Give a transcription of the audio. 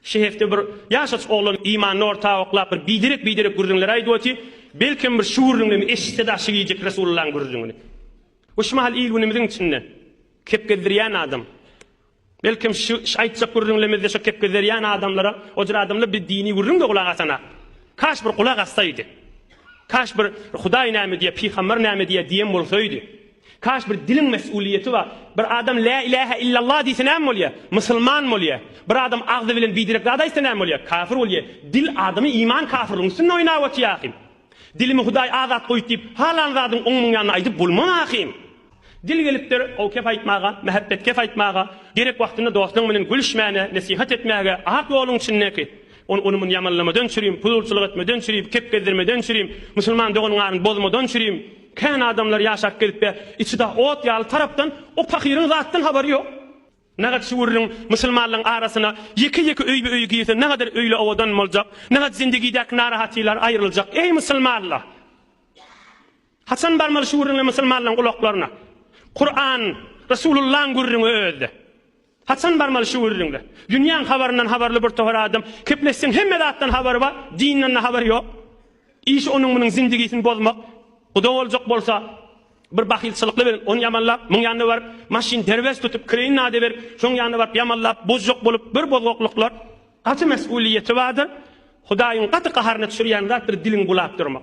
Şeherde bir ýaşaç oglan imanyny orta oklap bir biderek-biderek gürrüňler aýdyp oty, belkem bir şu gürrüňden eşitsede aşyk iýjek Resulullaň gürrüňini. Bu şu mahal il-günümiziň içinde kep gezdirýän adam. Belkem şu aýtjak gürrüňlemizde şu kep gezerýän adamlara ojur adamlar bir dini gürrüňde gulak asanak. Kaş bir gulak assaýdy. Kaş bir Hudaý näme diýýär, pygamber näme diýýär diýen bolsaýdy. Kaş bir diliň mesulyýeti bar. Bir adam lä ilähe illallah diýse näme bolýa? Musulman bolýa. Bir adam agzy bilen biderek zat aýtsa näme bolýa? Kafir bolýa. Dil adamy iman kafirligiň üstünde oýnap otyr ahim. Dilimi hudaý azat goýdy diýip halan zadyň oň muň ýanyna aýdyp bolmaz ahim. Dil gelipdir ow kep aýtmaga, mähebbet kep aýtmaga, gerek wagtynda dostuň bilen gülüşmäne, nesihat etmäge, ak ýoluň içindäki, ony ony muny ýamanlamadan çürim, puzulçylyk etmeden çürim, kep gezdirmeden çürim, musulman dogan garyn bozmadan çürim, Kän adamlar ýaşap gelipbe içi da ot ýaly tarapdan o pahyryň zatdan habary ýok. Nähak şüwürliň musulmanlaň arasyna ýeke ýeke öýbe öýi girse nähadar öýle owadan boljak, nähak zindegidäki narahatylar aýryljak eý musulmanlar. Haçan barmaly şüwürliňle musulmanlaň gulaklaryna. Kuran, Resulullaň gürrüňi özde. Haçan barmaly şu gürrüňler? Dünýäň habaryndan habarly bir tohar adam, kepleşseň hemme zatdan habary bar, dinden-de habary ýok. Işi onuň-munuň zindigisini bozmak. Guda boljak bolsa, bir bahylçylykly bilen, ony ýamanlap, muň ýanyna baryp, maşyn derbes tutup, kireýin nada berip, şoň ýanyna baryp ýamanlap, bozjak bolup, bir bozgaklyklar. Gaty mesgulyýeti bardyr. Hudaýyň gaty gaharyna düşürýän zatdyr diliň bulap durmak.